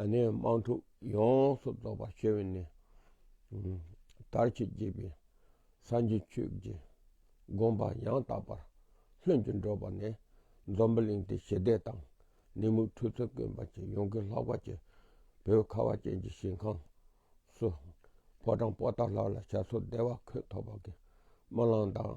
ཨ་ནི་དམངས་ཕྲུག་ཡོངས་སུ་རྫོགས་པར་སྤྱོད་པས་ནི། དར་གྱིས་བགྱིས་པའི་སངས་རྒྱས་ཁྱོད་ཀྱི་དགོངས་པ་ཡང་དག་པར་ལྷུན་གྱིས་འགྲུབ་པ་ནས་འཛོམ་པ་གླིང་སྟེ་ཞི་བདེ་དང་ནི་མུ་འཁྲུལ་ཚུལ་དཀོན་པ་ཅན་ཡོངས་ཀྱི་ལྷག་པ་ཅན་བོད་ཁ་བ་ཅན་གྱི་ཞིང་ཁམས་སུ། ཕོ་བྲང་པོ་ཏཱ་ལ་ལ་བྱ་ཚོགས་བདེ་བ་འཁོད་ཐོབ་པ་གི་དམར་ལམ་དང།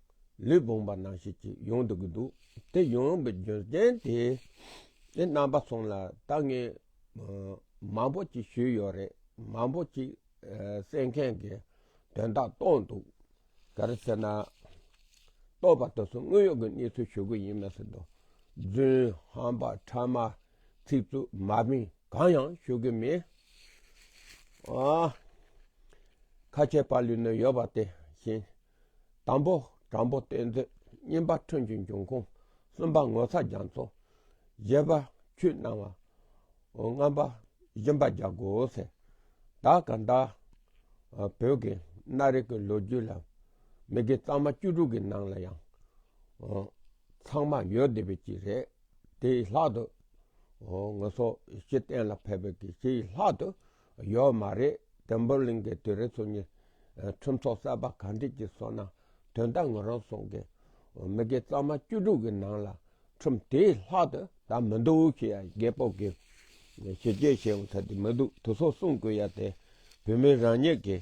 ལུས་བུང་བ་ནང་བཞིན་གྱིས་ཡོང་འདོད་ཀྱི་འདུག་དེ་ཡོང་བའི་རྒྱུ་རྐྱེན་དེ་ནི་རྣམ་པ་ཚང་ལ་ད་ངས་མང་པོ་ཅིག་ཞུས་ཡོད་རེད་མང་པོ་ཅིག་གསན་མཁན་གྱི་དོན་དག་རྟོགས་འདུག་ག་རེ་ཟེར་ན། རྟོགས་པ་དེ་ཚོ་དངོས་ཡོད་ཀྱི་གནས་ཚུལ་ཞུ་གི་ཡིན་མ་ཟད་རྡོ་རྫུན་ཧམ་པ་ཕྲ་མ་ཚིག་རྩུབ་མ་མི་གང་ཡང་ཞུ་གི་མེད། ཁ་ཆེ་པ་ལུས་ན་ཡོད་པ་དེ་བཞིན་དང་པོ། དྲང་པོ་གཏེར་མཛོད་བསྙེན་པ་ཁྲོན་གྱི་འབྱུང་ཁུངས་གསུམ་པ་ངོ་ཚ་རྒྱ་མཚོ། བརྒྱད་པ། ཆུ་སྣང་བ། ལྔ་པ། བཞི་པ་རྒྱ་སྒོ་ཚེ་བདག་གི་བདག། བོད་ཀྱི་སྣ་རིགས་ཀྱི་ལོ་རྒྱུས་ལ་མི་དགེ་གཙང་མ་བཅུ་དྲུག་གི་ནང་ལ་ཡང་ཚང་མ་ཡོད་བསྡད་པའི་གཅིག་རེད། དེའི་ལྷག་ཏུ་ངོ་སོ་བཞི་གཏན་ལ་ཕེབས་པའི་གཅིག་ལྷག་ཏུ། ཡོད་མ་རེད་དེ་འབོར་གླིང་གི་དུས་རེ་ཚོ་གཉིས་ཁྲིམས་ཚོགས་གསར་པ་ག་འགྲིག་གི་སོ་ན་དོན་དག་ངོས་རང་སོང་གི་མི་དགེ་གཙང་མ་བཅུ་དྲུག་གི་ནང་ལ་ཁྲིམས་དེའི་ལྷག་ཏུ་ད་མི་འདུག་ཞེས་ཡ་རྒྱལ་སྤོབས་ཀྱི་ཞི་རྒྱས་བྱས་ཡོང་ཐབས་དེ་མི་འདུག་དུ་སོགས་གསུང་དགོས་ཡ་དེ་བོད་མི་རང་ཉིད་ཀྱི་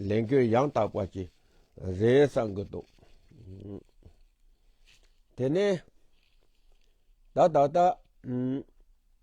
ལས་འགུལ་ཡང་དག་པ་ཞིག་རེད་བསམ་གི་འདུག་དེ་ནས་ད་ད་ལྟ་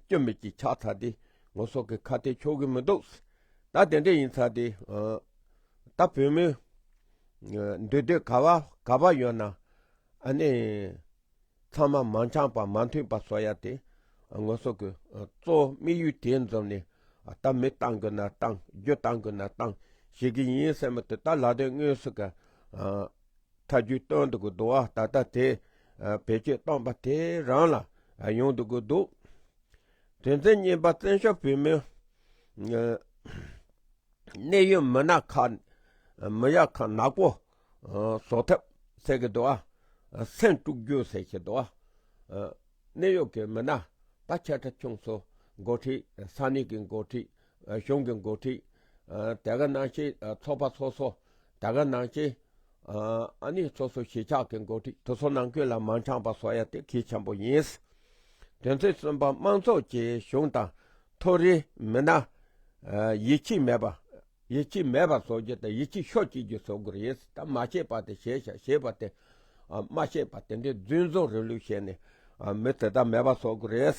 སྐྱོན་མེད་ཀྱི་ཆགས་ཚར་ཏེ་ངོ་སོགས་ཀྱི་ཁ་གཏད་ཆོག་གི་མི་འདུག། ད་དེ་འདྲ་ཡིན་ཚར་ཏེ། ད་བོད་མི་འདུས་སྡོད་ག་བ་ག་བ་ཡོད་ན་ཨ་ནི། ཚང་མ་མང་ཆང་པ་མང་ཐུན་པ་བཟོ་ཡ་དེ། ངོ་སོགས་ཀྱི་གཙོ་བོ་དམིགས་ཡུལ་དེ་འཛོམས་ནས་ད་མི་བཏང་དགོས་ན་བཏང་རྒྱུ་བཏང་དགོས་ན་བཏང་བྱེད་ཀྱི་ཡིན་སེམས་དུ་ད་ལ་དོན་དངོས་སུ་ག། མཐའ་རྒྱུད་སྟོན་འདུག་གི་འདུག་ཨ་ད་ལྟ་དེ་བེད་སྤྱོད་བཏང་པ་དེ་རང་ལ་ཡོང་འདུག་གི་འདུག་དོན་ཚན་གཉིས་པ་བཙན་བྱོལ་བོད་མིའི་གནད་ཡོད་མི་སྣ་ཁག་མི་ཡག་ཁག་ནག་པོ་བཟོ་ཐབས་ཟེར་གི་འདུག་ཨ་སེམས་དཀྲུག་རྒྱུ་ཟེར་གི་འདུག་ཨ་གནད་ཡོད་ཀྱི་མི་སྣ་ད་ཁྱེད་ཁྲ་ཆུང་ཚོ་འགོ་ཁྲིད་ས་གནས་ཀྱི་འགོ་ཁྲིད་གཞུང་གི་འགོ་ཁྲིད། དེ་ག་ནང་ཆེན་ཚོགས་པ་ཚོ་སོ། དེ་ག་ནང་ཆེན། ཨ་ནི་ཚོ་སོ་གཞིས་ཆགས་ཀྱི་འགོ་ཁྲིད་དུ་སོ་ནང་ཁུལ་ལ་མང་ཆགས་པ་སོ་ཡ་དེ་གལ་ཆེན་པོ་ཡིན། དོན་ཚན་གསུམ་པ་དམངས་ཚོགས་ཀྱིས་གཞུང་དང། མཐོ་རིས་མི་སྣ། ཡིད་ཆེས་མེད་པ། ཡིད་ཆེས་མེད་པ་བཟོ་རྒྱུ་དང་ཡིད་ཆེས་ཤོར་བྱེད་རྒྱུ་བཟོ་དགོས་ཡིན། ད་མ་བྱས་པ་དེ་བྱས་ཤག་ཞེས་པ་དེ། མ་བྱས་པ་དེ་འདྲའི་རྫུན་བཟོ་རིན་ལུགས་བཤད་ནས། མི་དེ་དག་མེད་པ་བཟོ་དགོས།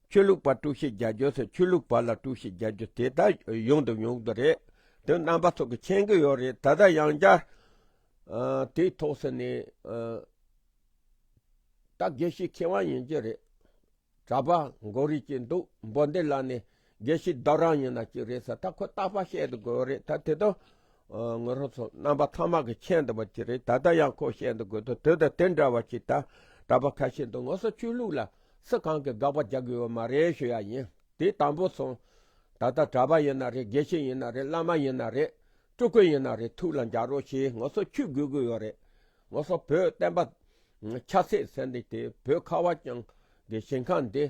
ཆོས་ལུགས་པར་དཀྲུག་ཤིང་རྒྱག་རྒྱུ་སོགས་ཆོས་ལུགས་བར་ལ་དཀྲུག་ཤིང་རྒྱག་རྒྱུ་དེ་དག་ཡོང་དུ་ཡོང་གི་རེད། དོན་རྣམ་པ་ཚོགས་ཀྱི་མཁྱེན་གྱི་ཡོད་རེད་ད་ལྟ་ཡང་བསྐྱར་དེའི་ཐོག་ཟེར་ནས་ད་དགེ་བཤེས་མཁས་དབང་ཡིན་གྱི་རེད་གྲྭ་པ་འགོ་རེད་ཀྱི་འདུག་འབོ་འདི་ལ་ནི་དགེ་བཤེས་བདག་རང་ཡིན་ན་ཅིག་རེད་ཟེར་ད་ཁོ་རྟག་པ་བཤད་འདུག་གི་རེད་ད་དེ་དོན་ངོས་རང་ཚོ་རྣམ་པ་ཚང་མ་གི་མཁྱེན་འདུག་པ་ཅིག་རེད་ད་ལྟ་ཡང་ཁོ་བཤད་འདུག་གི་འདུག་དོན་དུ་དེ་འདྲ་བ་ཞིག་ད་གྲྭ་པ་ཁ་ཤས་འདུག་ངོ་སོ་ཆོས་ལུགས་ལ། སུ་གང་གིས་དགག་པ་རྒྱག་དགོས་ཡོད་མ་རེད་ཞུ་ཡ་ཡིན་དེ་དང་པོ་སོང། ད་ལྟ་གྲྭ་པ་ཡིན་ན་རེད་དགེ་བཤེས་ཡིན་ན་རེད་བླ་མ་ཡིན་ན་རེད། སྤྲུལ་སྐུ་ཡིན་ན་རེད་ཐུགས་ལ་འཇགས་རོགས་ཞེས་ངོ་སོ་ཆུད་དགོས་དགོས་ཡོད་རེད། ངོ་སོ་བོད་བསྟན་པ། ཆབ་སྲིད་ཟེར་འདི་དེ་བོད་ཁ་བ་བྱང་གི་ཞིང་ཁང་འདི་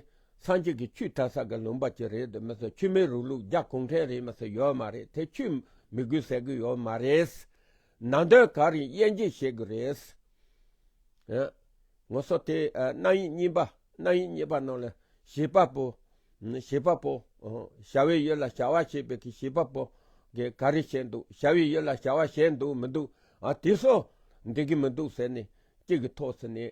སངས་རྒྱས་ཀྱི་ཆུས་དར་ས་གི་ལུང་པ་གཅིག་རེད་དུ་མི་སོ་ཆུ་མེད་རུག་ལུག་རྒྱ་གུང་ཁྲན་རིས་མི་སོ་ཡོད་མ་རེད་དེ་ཆུས་མི་དགོས་ཟེར་གི་ཡོད་མ་རེད། ནང་དོན་གང་རིགས་དབྱེ་འབྱེད་བྱེད་དགོས་རེད། ངོ་སོ་དེ་རྣམ་དབྱེ་གཉིས་པ་རྣམ་དབྱེ་གཉིས་པ་རྣམས་ལ་བྱེད་པ་པོ། བྱེད་པ་པོ། བྱ་བའི་ཡུལ་ལ་བྱ་བ་བྱེད་པའི་གི་བྱེད་པ་པོ། གི་ག་རེ་བྱས་འདུག་བྱ་བའི་ཡུལ་ལ་བྱ་བ་བྱས་འདུག་མི་འདུག། དེ་སོགས་འགྲིག་གི་མི་འདུག་ཟེར་ནས་གཅིག་གི་ཐོག་ཚེ་ནས།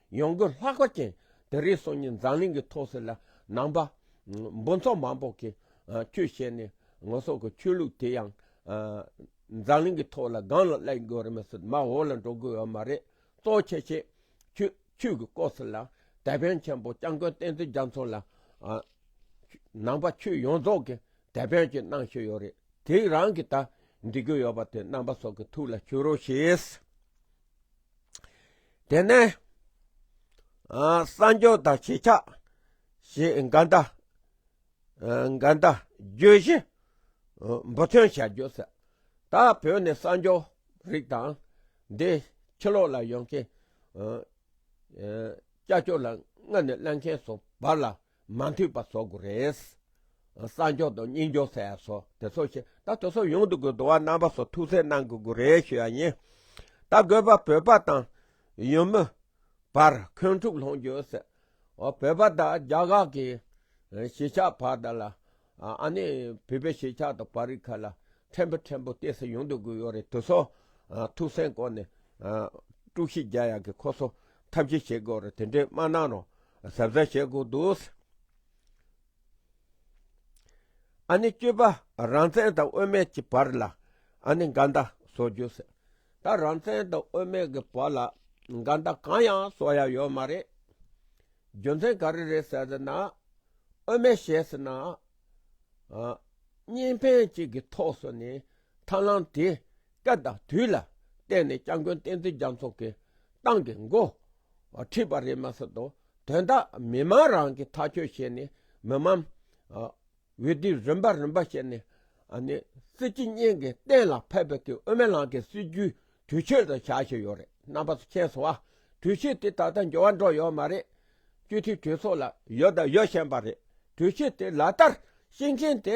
ཡོང་སྒོ་ལྷག་པ་ཅན་དེ་རིགས་སོ་གཉིས་འཛམ་གླིང་གི་མཐོ་སར་ལ་ནང་པ་འབུ་མཚོ་མང་པོ་གིས་ཁྱོད་བཤད་ནས་ངོ་སོགས་ཀྱི་ཆོས་ལུགས་དེ་ཡང་འཛམ་གླིང་གི་མཐོ་ལ་སྒང་ལ་བསླད་དགོས་རེད་མི་སྲིད་མ་འོག་ལ་འགྲོ་དགོས་ཡོད་མ་རེད་གཙོ་ཆེ་ཆེ་ཁྱོད་ཆོས་ཀྱི་སྐོར་སོགས་ལ་དད་ཕན་ཆེན་པོ་སྐྱབས་མགོན་བསྟན་འཛིན་རྒྱ་མཚོ་ལ་ནང་པ་ཆོས་ཡོངས་རྫོགས་ཀྱི་དད་ཕན་ཅིག་གནང་ཤེས་ཡོད་རེད་དེ་རང་གིས་ད་འབྲི་དགོས་ཡོད་པ་དེ་ནང་པ་སོགས་ཀྱི་ཐུགས་ལ་ཆུད་རོགས་ཞེས་དེ་ནས་སངས་རྒྱས་དང་ཞེ་ཆགས་ཞེས་འགའ་འདའ་འགའ་འདའ་བརྗོད་བཞི་འབུ་ཐོན་བྱ་རྒྱུ་ཟེར་ད་བོད་ནས་སངས་རྒྱས་རིགས་དང་འདི་ཕྱི་ལོག་ལ་ཡོང་མཁན་སྐྱ་ཆོས་ལ་སྔ་ནས་གླེང་མཁན་སོགས་བར་ལ་མ་འཐུས་པ་བཟོ་དགོས་རེད། གསར་འགྱོག་དང་རྙིང་འགྱོག་ཟེར་ཡ་སོ་དེ་ཚོ་ཤེས་ད་དེ་ཚོ་ཡོང་དུ་དགོས་དུ་བ་རྣམ་པ་སོ་ཐུགས་སེལ་གནང་དགོས་དགོས་རེད་ཤོད་ཡ་ཡིན། ད་དགོས་པ་བོད་པ་དང་ཡུལ་མི་བར་འཁོན་འཁྲུག་སློང་རྒྱུ་ཡོད་སྲིད། བོད་པ་དང་རྒྱ་དགག་གི་གཞིས་ཆགས་བར་དང་ལ་ཨ་ནི་བོད་པའི་གཞིས་ཆགས་དང་པར་རིས་ཁག་ལ་ཕྲན་བུ་ཕྲན་བུ་བལྟས་སེ་ཡོང་དུ་དགོས་ཡོད་རེད་དེ་ཚོ་ཐུགས་སེལ་སྐོར་ནས་དཀྲུག་ཤིས་རྒྱག་ཡ་གི་ཁོ་ཚོ་ཐབས་ཤེས་བྱེད་དགོས་རེད་དེ་འདྲའི་སྨྲ་གནང་རོགས། གཟབ་གཟབ་བྱེད་དགོས་འདུག། ཨ་ནི་སྤྱོད་པ་རང་བཙན་དང་དབུ་མེད་ཀྱི་བར་ལ་ཨ་ནི་འགལ་ཟླ་བཟོ་རྒྱུ་ཟད། ད་རང་བཙན་དང་དབུ་མེད་ཀྱི་བར་ལ་འགལ་ཟླ་གང་ཡང་བཟོ་ཡ་ཡོད་མ་རེད། རྒྱུ་མཚན་ག་རེ་རེད་ཟེར་ན། དབུ་མེད་ཞེས་ན། གཉིས་ཕན་གཅིག་གི་ཐོག་སོ་ནི་ཐང་ལང་དེ། སྐབས་དང་དུས་ལ་བརྟེན་ནས་སྐྱབས་མགོན་བསྟན་འཛིན་རྒྱ་མཚོ་གིས་ཏང་གི་མགོ་ཁྲིད་པ་རེད་མ་ཟད་དོ་དོན་དག་མི་དམངས་རང་གིས་ཐག་གཅོད་བྱས་ནས་མི་དམངས་འོས་བསྡུ་རིམ་པ་རིམ་པ་བྱས་ནས་སྲིད་སྤྱི་གཉིས་ཀྱི་གཏན་ལ་ཕབ་པའི་དབུ་མའི་ལམ་གྱི་སྲིད་བྱུས་དུས་ཆོད་དུ་བྱ་བཞིན་ཡོད་རེད་རྣམ་པ་ཚོ་ཁྱེད་ཚོ་དུས་ཆོད་དེ་ད་ལྟ་འགྱུར་བ་འགྲོ་ཡོད་མ་རེད། སྤྱི་འཐུས་གྲོས་ཚོགས་ལ་ཡོད་དང་ཡོད་བཞིན་པ་རེད་དུས་ཆོད་དེ་ལག་བསྟར་ཤིང་ཤིང་དེ་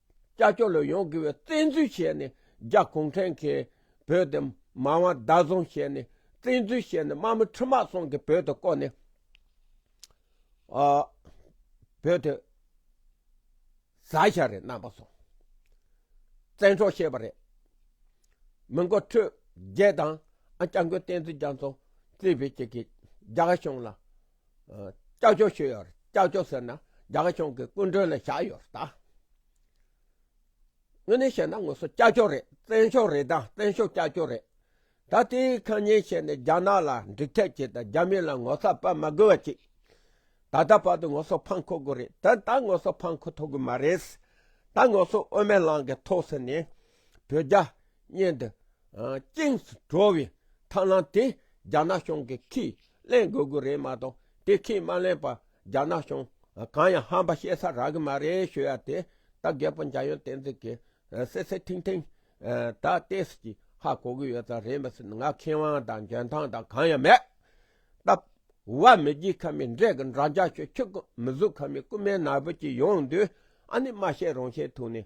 ཀྱ་སྐྱོ་ལོ་ཡོང་གི་བའི་བཙན་འཛུལ་བྱས་ནས་རྒྱ་གུང་ཁྲན་གྱི་བོད་དེ་མ་དབང་བདག་བཟུང་བྱས་ནས་བཙན་འཛུལ་བྱས་ནས་དམག་མི་ཁྲི་དམག་སོང་གི་བོད་དེ་བསྐོར་ནས་བོད་དེ་ཟ་བྱ་རེད་རྣམ་པ་སོང་བཙན་འཕྲོག་བྱས་པ་རེད་མི་མགོ་ཁྲོད་རྒྱལ་དང་ཨ་ཀྱ་མགོན་བསྟན་འཛིན་རྒྱ་མཚོ་བརྩེ་བའི་ཅིག་གིས་རྒྱ་གཞུང་ལ། ཀྱག་ཀྱོག་བྱས་ཡོད། ཀྱག་ཀྱོག་ཟེར་ན་རྒྱ་གར་གཞུང་གི་སྐུ་མགྲོན་ལ་བཞག་ཡོད་རེད་ད། དངོས་གནས་བཤད་ན་ངོ་སོ་ཀྱག་ཀྱོག་རེད་བཙན་ཤོག་རེད་ད་བཙན་ཤོག་ཀྱག་ཀྱོག་རེད། ད་དེའི་ཁ་ཉན་བྱས་ནས་རྒྱ་ནག་ལ་འགྲིག་ཐབས་བྱས་ད་རྒྱ་མི་ལ་ངོ་ཚ་པ་མ་དགོས་བ་ཅིག་ད་ལྟ་བར་དུ་ངོ་སོ་ཕང་ཁོ་དགོས་རེད་ད་ད་ངོ་སོ་ཕང་ཁོ་ཐོག་གི་མ་རེད། ད་ངོ་སོ་དབུ་མའི་ལང་གི་ཐོག་ཟེར་ནས་བོད་རྒྱ། སྙན་དུ་དབྱིངས་སུ་གྲོལ་བའི་ཐབས་ལམ་དེ་རྒྱ་ནག་གཞུང་གིས་ཁས་ལེན་དགོས་གི་རེད་མ་གཏོགས་དེ་ཁས་མ་ལེན་པར་རྒྱ་ནག་གཞུང་གང་ཡང་ཧམ་པ་བཤད་ས་རག་གི་མ་རེད་ཞུ་ཡ་དེ་ད་རྒད་པོ་འཇམ་དབྱངས་བསྟན་འཛིན་གྱིས་སེ་སེ་ཐིང་ཐིང་ད་བལྟས་སུ་ཅིག་ཧ་གོ་གི་ཡོད་ས་རེད་མི་སྲིད་ང་མཁས་དབང་དང་འཇོན་ཐང་དང་གང་ཡང་མེད་སྟབས། བ་མི་རྒྱུད་ཁ་མའི་འདྲེ་གི་འདྲ་འཇག་ཆོས་ཁྱོད་ཀྱི་མི་གཟུགས་ཁ་མའི་རྐུན་མའི་ནག་པོ་ཅིག་ཡོང་དུས་ཨ་ནི་སྨྲ་ཤེས་རང་ཤེས་ཐུག་ནས།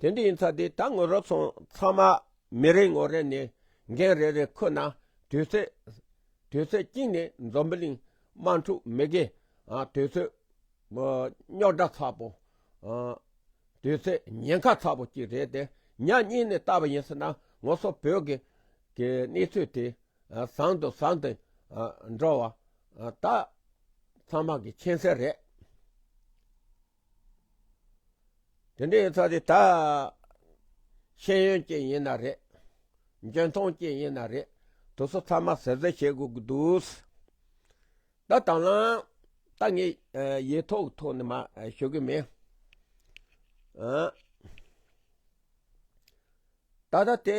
དེ་འདྲའི་ཚ་དེ་ད་ངོ་རོ་སོང་ཚང་མ་མི་རེ་ངོ་རེ་ནས་འགན་རེ་རེ་ཁུར་ན་དུས་ཚོད་དུས་ཚོད་གཅིག་ནས་འཛོམ་པི་ལིང་དམག་འཁྲུག་མི་དགེ་དུས་ཚོད་རྙོག་དྲ་ཚ་པོ་དུས་ཚོད་ཉེན་ཁ་ཚ་པོ་གཅིག་རེད་དེ་ཉག་གཉིས་ནས་ལྟ་བ་ཡིན་ཟེར་ན་ངོ་སོ་བོད་གི་གི་གནས་ཚུལ་དེ་བཟང་དུ་བཟང་དུ་འགྲོ་བ་ད་ཚང་མ་གི་མཁྱེན་གསལ་རེད། དེ་འདྲའི་ཚོགས་དེ་དག་ཤེས་ཡོན་ཅན་ཡིན་ན་རེད། འཇོན་མཐོང་ཅན་ཡིན་ན་རེད་དུ་སོ་ཚང་མ་ཟེར་ཟེར་བྱེད་དགོས་ཀྱི་འདུག། ད་དང་བླང་ད་ངས་ཡིག་ཐོག་ཐོག་ནས་མ་ཞུ་གི་མེད། ད་ལྟ་དེ།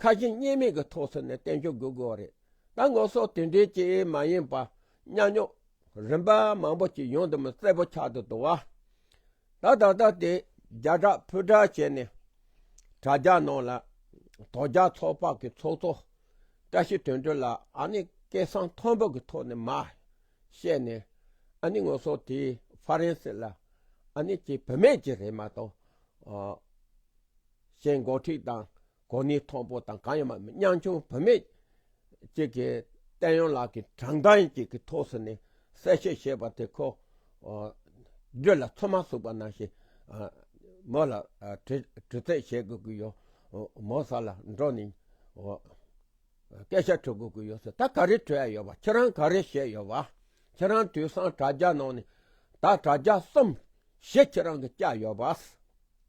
ཁ་ཞེ་གཉིས་མེད་ཀྱི་ཐོག་ཚུད་ནས་བསྟན་བཅོས་འགོད་དགོས་པ་རེད། ད་ངོ་སོགས་དེ་འདྲའི་ཅི་ཡིན་མ་ཡིན་པ་གཉའ་གནོན་རིམ་པ་མང་པོ་ཅིག་ཡོང་དུ་མི་རྩེད་པོ་ཆགས་དུ་འདུག་ཨ། ད་ད་ལྟ་དེ་རྒྱ་གྲགས་ཕུ་གྲགས་བྱས་ནས་དྲ་རྒྱ་ནང་ལ་དོ་རྒྱ་ཚོགས་དཔག་གི་ཚོགས་གཙོ་བཀྲ་ཤིས་དོན་འགྲུབ་ལ་ཨ་ནི་སྐད་གསང་མཐོན་པོ་གི་ཐོག་ནས་མ་བཤད་ནས་ཨ་ནི་ངོ་སོགས་དེའི་ཧྥ་རན་སི་ལ་ཨ་ནི་ཀྱི་བུད་མེད་ཅིག་རེད་མ་གཏོགས། གཞན་མགོ་ཁྲིད་དང་གོ་གནས་མཐོ་པོ་དང་གང་ཡང་མ་མེད་ཉམ་ཆུང་བུད་མེད་ཅིག་གིས་བསྟན་གཡོག་ལགས་ཀྱི་དྲང་གཏམ་ཅིག་གི་ཐོག་སུ་ནས་གསལ་བཤད་བྱས་པ་དེ་ཁོ་བརྒྱུད་ལ་ཚོད་མ་ཟུག་པ་ནང་བཞིན་མོ་ལ་དྲི་རྩད་བྱེད་དགོས་ཀྱི་ཡོད། མོ་ས་ལ་འགྲོ་ནས་སྐད་ཆ་དྲི་དགོས་ཀྱི་ཡོད་ཟེར་ད་ག་རེ་དྲི་ཡ་ཡོད་པ་ཁྱེད་རང་ག་རེ་བཤད་ཡོད་པ་ཁྱེད་རང་དུས་སང་དྲ་རྒྱ་ནང་ནས་ད་དྲ་རྒྱ་གསུམ་བཞི་ཁྱེད་རང་གིས་བསྐྱལ་ཡོད་པ།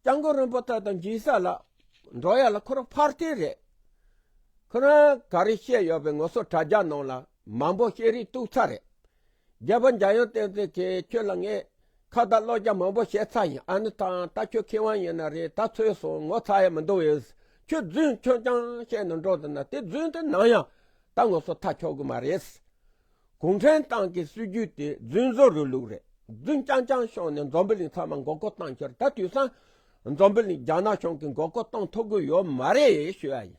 སྤྱང་ཀི་རིན་པོ་ཏེ་དང་སྦྱིན་བདག་ལ། འགྲོ་ཡ་ལ་ཁོ་རང་ཕར་བལྟས་རེད། ཁོ་རང་ག་རེ་བཤད་ཡོད་པའི་ངོ་སོ་དྲ་རྒྱ་ནང་ལ་མང་པོ་བཤད་རིན་གཏུགས་ཚར་རེད། རྒྱལ་པོ་འཇམ་དབྱངས་བསྟན་འཛིན་གིས་ཁྱོད་ལ་ངས་ཁ་བརྡ་ཀློག་རྒྱ་མང་པོ་བཤད་ཚར་ཡིན་ཨ་ནི་ཐང་ད་ཁྱོད་ཁེ་དབང་ཡིན་ན་རེད་ད་ཚོད་སོང་ངོ་ཚ་ཡ་མི་འདུག་ཨེས་ཁྱོད་རྫུན་ཁྱོད་རྐྱང་བཤད་ནས་འགྲོ་འདུག་ན་དེ་རྫུན་དེ་ནང་ཡང་ད་ངོ་སོ་ཐག་ཆོད་གི་མ་རེད། གུང་ཁྲན་ཏང་གི་སྲིད་ཇུས་དེ་རྫུན་བཟོ་རུ་ལུག་རེད་རྫུན་རྐྱང་རྐྱང་ཤོང་ནས་འཛོམས་པི་ལིང་ཚང་མ་མགོ་སྐོར་བཏང་ཁྱེར་ད་དུས་སང་འཛོམས་པི་ལིང་རྒྱ་ནག་གཞུང་གི་མགོ་སྐོར་བཏང་ཐུབ་གི་ཡོད་མ་རེད་ཞུས་ཡ་ཡིན་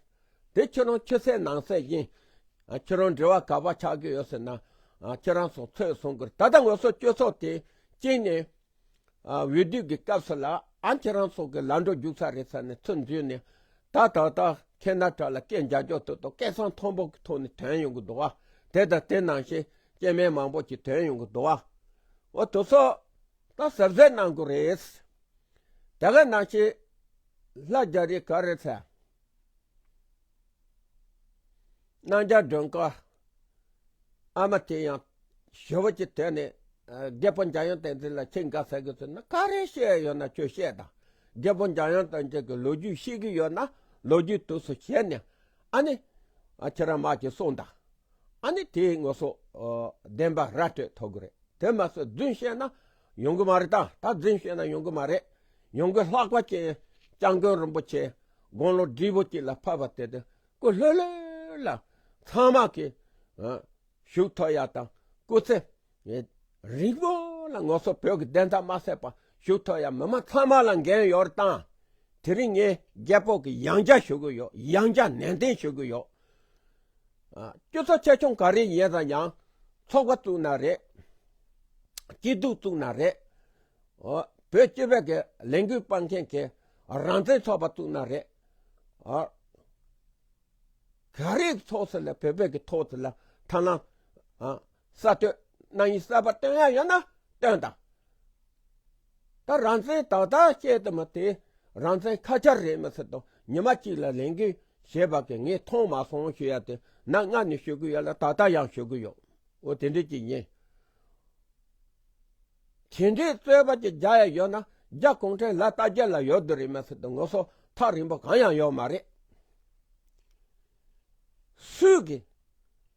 དེ་ཁྱེད་རང་ཕྱི་གསལ་ནང་གསལ་ཡིན་ཁྱེད་རང་འབྲེལ་བ་ག་བ་ཆགས་གི་ཡོད་ཟེར་ན་ཁྱེད་རང་སོང་ཚོད་སོང་གིར་ད་ལྟ་ངོས་སོ་སྤྱོད་ཚོགས་དེ་བཅིངས་ནས་འོས་བསྡུ་གི་སྐབས་སུ་ལ་ཨན་ཁྱེད་རང་ཚོ་གི་ལ་འགྲོ་རྒྱུག་ས་རེད་ས་ནས་ཚུར་འཛུལ་ནས་ད་ད་ད་ཁྱེད་ནག་ཁྲ་ལ་སྐད་མཇའ་འཇོག་ཐུབ་ཐུབ་སྐད་གསང་མཐོ་པོ་གི་ཐོག་ནས་དོན་ཡོང་གི་འདུག་བ་དེ་དང་དེ་ནང་བཞིན་སྐྱེས་མའི་མང་པོ་གྱི་དོན་ཡོང་གི་འདུག་བ་འོ་དོ་སོ་ད་ཟབ་གཟེར་གནང་དགོས་རེད་དེ་ག་ནང་བཞིན་ལྷ་རྒྱ་རི་ག་རེད་ས། སྣང་རྒྱ་སྒྲོན་དཀར་ཨ་མ་དེ་ཡང་ཞི་བ་ཅིག་དེ་ནས་རྒད་པོ་འཇམ་དབྱངས་བསྟན་འཛིན་ལ་ཁྱེད་འགའ་ཟེར་གི་ཚོད་ན་ག་རེ་བཤད་ཡོད་ན་ཁྱོད་བཤད་དང་རྒད་པོ་འཇམ་དབྱངས་བསྟན་འཛིན་གི་ལོ་རྒྱུས་ཤེས་གི་ཡོད་ན་ལོ་རྒྱུས་དུས་སུ་བཤད་ནས་ཨ་ནི་ཁྱེད་རང་མ་ཅིག་གསུངས་དང་ཨ་ནི་དེའི་ངོ་སོ་བདེན་པ་ར་སྤྲོད་ཐོབ་གི་རེད་དེ་མ་ཟད་རྫུན་བཤད་ན་ཡོང་གི་མ་རེད་ད་ད་རྫུན་བཤད་ན་ཡོང་གི་མ་རེད་ཡོང་གི་ལྷག་པ་ཅན་སྤྱང་རྒོད་རིན་པོ་ཆེ་དགོང་ལོ་བསྒྲིལ་བོ་གཅིག་ལ་ཕབ་པ་དེ་དང་སྐུ་ལྷོད་ལྷོད་ལ་ཚང་མ་གི་བཞུགས་ཐོ་ཡག་དང་སྐུ་ཚེ་རིང་པོ་ལ་ངོ་སོ་བོད་ཀྱི་བདེན་མཐའ་མ་ཟད་པ་བཞུགས་ཐོ་ཡག་མི་དམངས་ཚང་མ་ལ་འགན་ཡོད་རེད་ད་དེ་རིང་ངས་རྒྱལ་པོ་གི་ཡང་རྒྱ་ཞུ་གི་ཡོད་ཡང་རྒྱ་ནན་ཏན་ཞུ་གི་ཡོད་སྐྱོ་ཚ་ཆེ་ཆུང་ག་རེ་ཡིན་རུང་ཡང་ཚོགས་པ་བཙུགས་ན་རེད། སྐྱིད་སྡུག་བཙུགས་ན་རེད། བོད་སྤྱི་བས་ཀྱི་ལས་འགུལ་སྤང་མཁན་གྱི་རང་བཙན་ཚོགས་པ་བཙུགས་ན་རེད། ག་རེ་ཚོགས་སུ་ལ་བོད་པས་ཀྱི་ཐོག་ལ་ཐ་ན་གསར་གཏོད་གནང་ཡུལ་གསར་པ་བཏོན་ཡག་ཡོད་ན་བཏོན་དང། ད་རང་བཙན་ཏག་ཏག་བཤད་དུ་མ་དེ་རང་བཙན་ཁ་ཆར་རེད་མི་སྲིད་དོ་ཉི་མ་གཅིག་ལ་ལས་འགུལ་བྱེད་པ་གི་ངས་མཐོང་མ་སོང་ཞུ་ཡག་དེ་ན་སྔར་ནས་ཞུ་གི་ཡོད་ལ་ད་ལྟ་ཡང་ཞུ་གི་ཡོད་འོ་དེ་འདྲས་ཀྱི་ཡིན། དེ་འདྲས་རྩོད་པ་ཅིག་རྒྱག་ཡག་ཡོད་ན་རྒྱ་གུང་ཁྲན་ལ་ལྟ་རྒྱ་ལ་ཡོད་དུ་རེད་མི་སྲིད་དོ་ངོ་སོ་ཐག་རིང་པོ་གང་ཡང་ཡོད་མ་རེད་སུས་གི།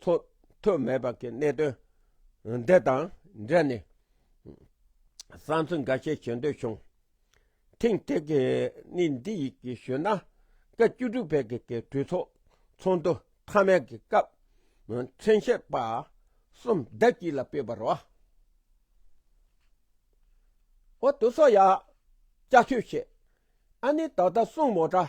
ཚོགས་ཐོག་མེད་པ་གི་གནད་དོན་འདི་དང་འབྲེལ་ནས་བསམ་ཚུལ་འགའ་ཤས་བྱེད་འདོད་བྱུང། ཐེངས་དེ་གི་ནི་འདི་ཡི་གི་ཞུ་ན་སྐབས་བཅུ་དྲུག་པའི་གི་གི་གྲོས་ཚོགས་ཚོགས་འདུ་མཐའ་མའི་གི་སྐབས་མཚན་བཤད་པ་གསུམ་ཟླ་གཅིག་ལ་སྤེལ་བར་བ། འོ་དུ་སོ་ཡ་བཅའ་ཆོས་བྱེད་ཨ་ནི་ད་ད་སྲུང་མོ་དྲ།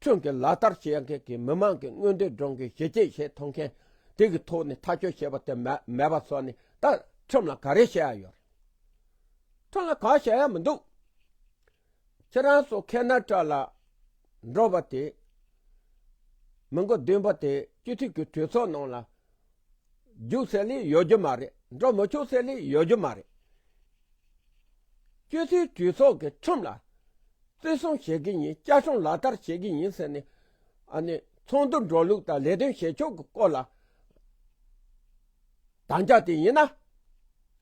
ཁྱོད་ཀྱིས་ལག་བསྟར་བྱེད་མཁན་གྱི་མི་མང་གི་མངོན་འདོད་སྒྲུང་གི་གཞི་བཅས་བྱེད་ཐུབ་མཁན་དེ་གི་ཐོག་ནས་ཐག་གཅོད་བྱེད་པ་དེ་མེད་པ་སོགས་ནི་ད་ཁྲིམས་ལ་ག་རེ་བྱེད་ཡ་ཡོད་རེད། ཁྲིམས་ལ་གང་བྱེད་ཡ་མི་འདུག་ཁྱེད་རང་ཚོ་ཁེ་ན་ཏྲ་ལ་འགྲོ་བ་དེ་མི་མགོ་བདུན་པ་དེ་སྤྱི་འཐུས་ཀྱི་གྲོས་ཚོགས་ནང་ལ་རྒྱུག་ཚད་ལས་ཡོལ་རྒྱུ་མ་རེད་འགྲོ་མི་ཆོག་ཚད་ལས་ཡོལ་རྒྱུ་མ་རེད། སྤྱོད་ཚུལ་གྲོས་ཚོགས་ཀྱི་ཁྲིམས་ལ་བརྩི་སྲུང་བྱེད་གི་ཡིན་བསྐྱར་སྲུང་ལག་བསྟར་བྱེད་གི་ཡིན་ཟེར་ནས་ཚོགས་འདུར་འགྲོ་ལུགས་དང་ལས་དོན་བྱེད་ཕྱོགས་ཀྱི་སྐོར་ལ་དམ་བཅའ་དེ་ཡིན་ན།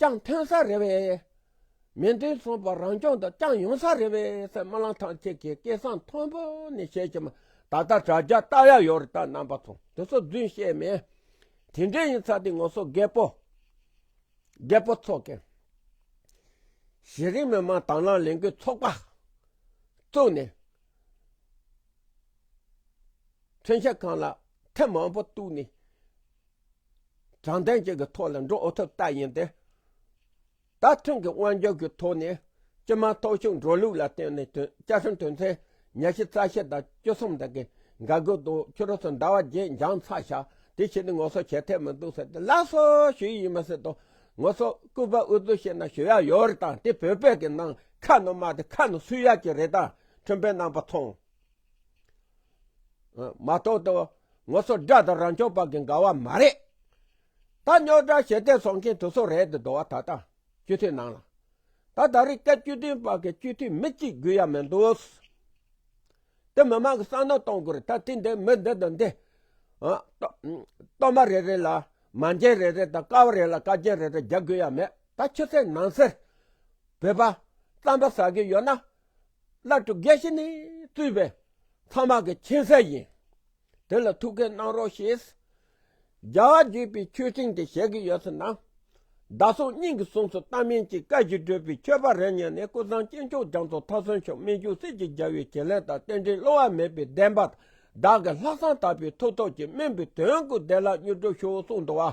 ཀྱང་ཐོན་ས་རེད་བས། མི་འདི་ཚོ་བ་རང་སྐྱོང་དང་བསྐྱངས་ཡོང་ས་རེད་བས་སེ་རྨ་ལང་ཐང་ཁྱེད་ཀྱི་སྐད་གསང་མཐོན་པོ་ནི་ཤེས་ཀྱི་མ་ད་ལྟ་དྲ་རྒྱ་བལྟ་ཡ་ཡོད་རེད་ད་རྣམ་པ་ཚོ་དེ་ཚོ་རྫུན་བཤད་མེད་དེ་འདྲས་ཡིན་ཚ་དེ་ངོ་སོ་རྒད་པོ་རྒད་པོ་ཚོ་གི་གཞི་རིམ་མི་མང་དང་ལང་ལེང་གི་ཚོགས་པ་བཙུགས་ནས་མཚོན་ཆ་ཁང་ལ་ཐེབས་མང་པོ་བཏུགས་ནས་དྲང་བདེན་བཅས་ཀྱི་ཐོག་ལ་འགྲོ་འོས་ཐུབ་རྟགས་ཡིན་ཏེ། ད་ཐེངས་ཀྱི་དབང་སྒྱུར་གྱི་ཐོག་ནས་སྤྱི་དམངས་ཐོབ་ཤུགས་འགྲོ་ལུགས་ལ་བརྟེན་ནས་བཅའ་ཁྲིམས་དོན་ཚན་ཉེར་བཞི་རྩ་ཤེ་དང་བཅུ་གསུམ་དག་གི་འགལ་འགུལ་དུ་ཕྱི་རོལ་དུ་འདའ་བ་བརྗེད་འགྱངས་ཚ་ཤ་དེ་བྱས་ཏེ་ངོ་སོ་བྱེད་ཐལ་མི་འདུག་ཟེར་ཏེ་སླར་གསོ་ཞུ་ཡི་ཡིན་མ་ཟེར་དོ། ངོ་སོ་སྐུ་པར་འུ་ཚོས་ཤེས་ན་ཞུ་ཡ་ཡོད་རེད་དང་དེ་བོད་པའི་གི་ནང་ཁ་ནང་མ་དེ་ཁ་ནང་སུས་ཡ་གྱི་རེད་དང་ཁྲིམས་དཔེ་ནང་པ་ཚོང། མ་གཏོགས་ཏུ་ངོ་སོ་དགྲ་དང་རང་སྐྱོང་པ་གི་འགའ་བ་མ་རེད། ད་རྙོག་དྲ་ཞེ་བདེ་བཟོ་མཁན་དུ་ཚོ་རེད་དུ་འདུག་བ་ད་ལྟ་སྤྱི་འཐུས་ནང་ལ། ད་ད་རི་སྐད་སྤྱི་འཐུས་པ་གི་སྤྱི་འཐུས་མི་གཅིག་དགོས་ཡ་མི་འདུག། དེ་མི་མང་གི་བསམ་ནོར་གཏོང་དགོས་རེད་ད་དེ་འདི་མི་འདི་དང་འདི། གཏོར་མ་རེ་རེ་ལ་མ་འཇལ་རེ་རེ་དང་ཀ་བ་རེ་ལ་བཀའ་རྒྱན་རེ་རེ་རྒྱག་དགོས་ཡ་མེད་ད་ཕྱི་གསལ་ནང་གསལ་བོད་པ་རྩམ་པ་ཟ་གི་ཡོད་ན། བླ་སྤྲུལ་དགེ་བཤེས་ནས་གཙོས་པའི་མཐའ་དམག་གི་མཁྱེན་གསལ་ཡིན། དེ་ལ་ཐུགས་འགན་གནང་རོགས་ཞེས་རྒྱ་བ་བརྒྱུད་པའི་ཆོས་སྤྲིངས་དེ་བྱེད་ཀྱི་ཡོད་ཚོད་སྣང། བདག་སོང་སྙིང་གི་གཟུངས་སུ་རྟ་སྨན་གྱི་བཀའ་བཞིན་སྤྲུལ་པའི་ཆོས་པ་རེ་གཉིས་ནས་སྐུ་ཚང་གཅེན་མཆོག་རྒྱ་མཚོ་ཐར་སོན་མཆོག་སྨིན་ཅུང་ཟད་ཀྱི་རྒྱལ་བའི་བྱིན་ལེན་དང་རྟེན་འབྲེལ་སླུ་བ་མེད་པའི་བདེན་པ་བདག་གི་ལྷག་བསམ་དག་པའི་ཐུགས་ཐོག་གི་སྨན་པའི་དོན་དགུ་བདེ་བླག་མྱུར་འགྲུབ་ཤོག་གསུངས་འདུག་བ།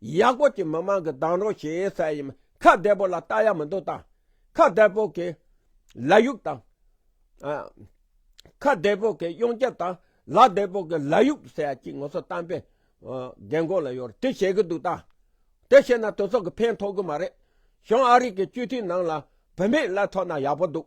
ཡག་པོ་གྱིས་མི་མང་གི་དང་རོགས་བྱེད་ཡས་ས་ཡིན་ཁ་བདེ་པོ་ལ་ལྟ་ཡག་མི་འདུག་དང་ཁ་བདེ་པོ་གིས་ལ་ཡུག་དང། ཁ་བདེ་པོ་གིས་གཡུང་རྒྱལ་དང་ལ་བདེ་པོ་གིས་ལ་ཡུག་ཟེར་ཡ་གཅིག་ངོ་སོ་བཏང་པའི་རྒན་གོག་ལ་ཡོད་དེ་བྱེད་གི་འདུག་དང་དེ་བྱེད་ན་དོལ་ཚོགས་ཀྱི་ཕན་ཐོག་གི་མ་རེད་བྱུང་ཨ་རིག་གི་སྤྱི་འཐུས་ནང་ལ་བུད་མེད་ལ་ཐོག་ན་ཡག་པོ་འདུག།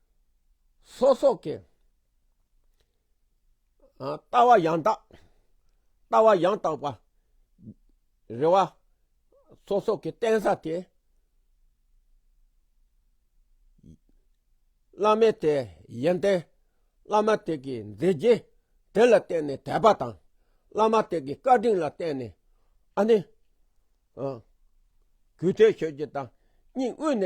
སོ་སོགས་ཀྱི། ལྟ་བ་ཡང་དག། ལྟ་བ་ཡང་དག་པ། རེ་བ། སོ་སོགས་ཀྱི་བསྟན་ས་དེ། བླ་མའི་དེ་ཡོན་ཏན། བླ་མ་དེ་གའི་མཛད་རྗེས་དེ་ལ་བརྟེན་ནས་དད་པ་དང། བླ་མ་དེ་གའི་བཀའ་དྲིན་ལ་བརྟེན་ནས་ཨ་ནི། གུས་བརྩེ་ཞུ་རྒྱུ་དང་སྙིང་དབུས་ནས།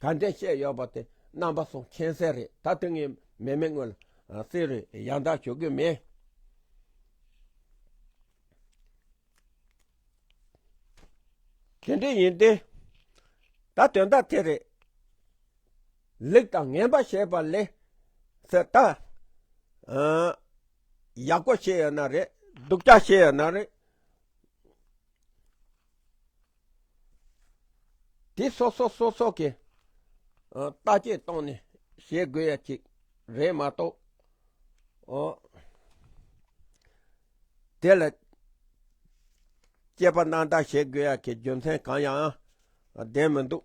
ད་འདྲའི་བཤད་ཡོད་པ་དེ་རྣམ་པ་གསུམ་མཁྱེན་གསལ་རེད་ད་དེ་ངས་མེད་མེད་དངོས་ལ་བསེ་རུས་ཡང་དག་ཞུ་གི་མེད། དེ་འདྲ་ཡིན་ཏེ། ད་དོན་དག་དེ་རེད། ལེགས་དང་ངན་པ་བཤད་པ་ལས་ཟེར་ད། ཡག་པོ་བཤད་ཡོད་ན་རེད་སྡུག་ཅག་བཤད་ཡོད་ན་རེད། དེ་སོ་སོ་སོ་སོ་གི་ལྟ་སྐྱེ་སྟངས་ནས་བྱེད་དགོས་ཡ་གཅིག་རེད་མ་གཏོགས། དེ་ལ་དཔྱད་པ་ནང་འདྲ་བྱེད་དགོས་ཡ་གི་རྒྱུ་མཚན་གང་ཡང་ལྡན་མི་འདུག།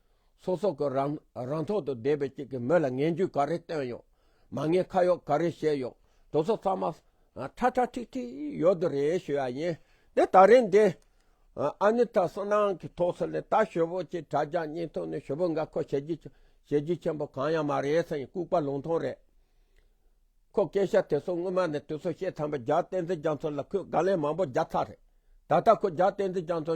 ཚོགས་གསོག་གི་རང་རང་ཐོག་ཏུ་བསྡད་པའི་ཅིག་གི་མི་ལ་ངན་ཇུས་ག་རེ་བཏོན་ཡོད། མ་ངན་ཁ་ཡོག་ག་རེ་བཤད་ཡོད་དོ་ཚོ་ཚང་མ་ཁྲ་ཁྲ་ཁྲིག་ཁྲིག་ཡོད་དོ་རེད་ཞུ་ཡ་ཡིན་དེ་ད་རིང་འདི་ཨ་ནི་ཐ་སོ་ནང་གི་ཐོག་སོ་ལས་ད་ཞོ་བོ་ཅིག་དྲ་རྒྱ་སྙིང་ཐུང་ནས་ཞོ་བོ་འགའ་ཁོ་ཞེ་རྒྱུས་ཞེ་རྒྱུས་ཆེན་པོ་གང་ཡང་མ་རེད་ས་ཡིན་ལྐུག་པ་ལུང་ཐུང་རེད་ཁོ་སྐད་ཤ་དེ་ཚོ་སྔོན་མ་ནས་དུས་ཚོད་ཤེས་ཐམས་པ་རྒྱ་བསྟན་འཛིན་རྒྱ་མཚོ་ལ་ཁོས་དགའ་ལན་མང་པོ་རྒྱག་ཚར་རེད་ད་ལྟ་ཁོ་རྒྱ་བསྟན་འཛིན་རྒྱ་མཚོ་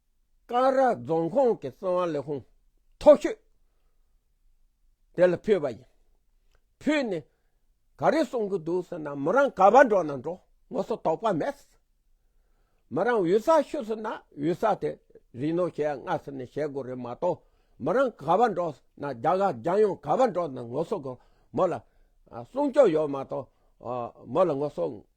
ཀང་ར་རྫོང་ཁོངས་ཀྱི་སྲིད་དབང་ལས་ཁུངས་ཐོག་ཤོད་དེ་ལ་ཕུལ་བ་ཡིན། ཕུལ་ནས་ག་རེ་གསུང་གི་འདུག་ཟེར་ན་མི་རང་ག་བ་འགྲོ་ན་འགྲོ་ངོ་སོ་དོག་པ་མེད། མི་རང་འུ་ས་ཤོད་ཟེར་ན་འུ་ས་དེ་རིག་ནོ་ཞེས་སྔ་ས་ནས་བཤད་དགོས་རེད་མ་གཏོགས་མི་རང་ག་བ་འགྲོ་ཟེར་ན་རྒྱ་གར་རྒྱ་ཡོང་ག་བ་འགྲོ་ན་ངོ་སོ་དགོས་མོ་ལ་སྲུང་སྐྱོབ་ཡོད་མ་གཏོགས་མོ་ལ་ངོ་སོ།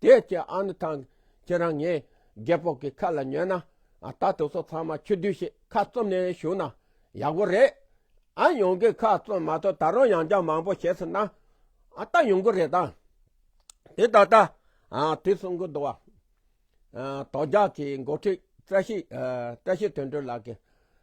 དེ་ཁྱེད་ཨ་ནུ་ཐང། ཁྱེད་རང་ངའི་རྒད་པོ་གི་ཁ་ལ་ཉོན་ན། ད་དུ་སོ་ཚང་མ་ཁྱོད་དུས་ཤིག་ཁ་བཙུམ་ནས་བཞུགས་ན་ཡག་པོ་རེད། ཨ་ཡོང་གིས་ཁ་བཙུམ་མ་ཐུབ་ད་རུང་ཡང་བསྐྱར་མང་པོ་བྱས་ཟིན་ན་ད་ཡོང་གི་རེད་ད། དེ་ད་ལྟ་དུས་གསུམ་གྱི་འདུ་བ། དོ་རྒྱག་གི་འགོ་ཁྲིད་བཀྲ་ཤིས་དོན་འགྲུབ་ལགས་ཀྱིས།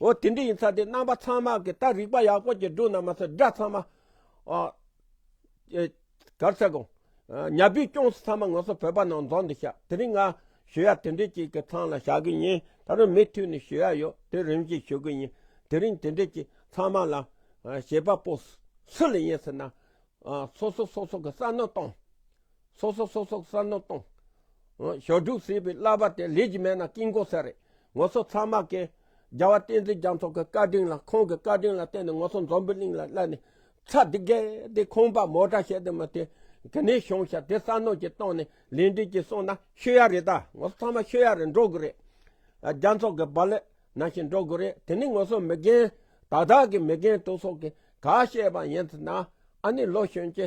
འོ་དེ་འདྲ་ཡིན་ཚ་དེ་རྣམ་པ་ཚང་མ་གི་ད་རིག་པ་ཡག་པོ་གི་འགྲོ་ན་མ་ཚ་དགྲ་ཚང་མ་ཨ། གར་ཚ་གོ། ཉྭ་བུས་སྐྱོངས་སོ་ཚང་མ་ངོ་སོ་བོད་པ་ནང་རྫོང་འདི་ཤག་དེ་རིང་ང་ཞུ་ཡ་དེ་འདྲས་ཅིག་གི་ཚང་ལ་ཞག་གི་ཉིན་ད་རུང་མི་ཐུས་ནི་ཞུ་ཡ་ཡོ་དེ་རིམ་བཞིན་ཞུ་གི་ཡིན་དེ་རིང་དེ་འདྲས་ཅིག་ཚང་མ་ལ་ཞེས་པ་པོ་སུ་ལ་ཡིན་ཟེར་ན། སོ་སོ་སོ་སོ་གི་བསམ་མནོ་གཏོང། སོག་སོག་སོག་སོག་ས་ནོར་སྟོང། ཞོ་དྲུག་བསྲེས་པའི་བསླབ་པ་དེ་ལས་ཀྱི་མེད་ན་དཀྱིལ་འཁོར་གསལ་རེད། ངོ་སོ་ཚང་མ་ཀེ། རྒྱལ་བ་བསྟན་འཛིན་རྒྱ་མཚོ་གི་བཀའ་དྲིན་ལ་ཁོང་གི་བཀའ་དྲིན་ལ་བརྟེན་ནས་ངོ་སོ་འཛོམས་པའི་གླིང་ལ་བསླབ་ནས་ཚ་འདི་གས་དེ་ཁོང་པ་མོ་དྲ་བཤད་དེ་མི་དེ་གི་ནས་ཤོང་ཤ་དེ་ས་ནོར་གྱི་སྟོང་ནས་ལས་འབྲས་ཀྱི་གསུང་ན་ཤོད་ཡ་རེད་ད་ངོ་སོ་ཚང་མ་ཤོད་ཡ་རེད་འགྲོ་དགོས་རེད། རྒྱ་མཚོ་གི་བ་ལས་ན་ཞིག་འགྲོ་དགོས་རེད་དེ་ནས་ངོ་སོ་མི་རྒན་དག་དག་གི་མི་རྒན་དུ་སོག་གི་ག་བཤད་པ་ཡིན་ཚུ་ན་ཨ་ནི་ལོ་གཞོན་གྱི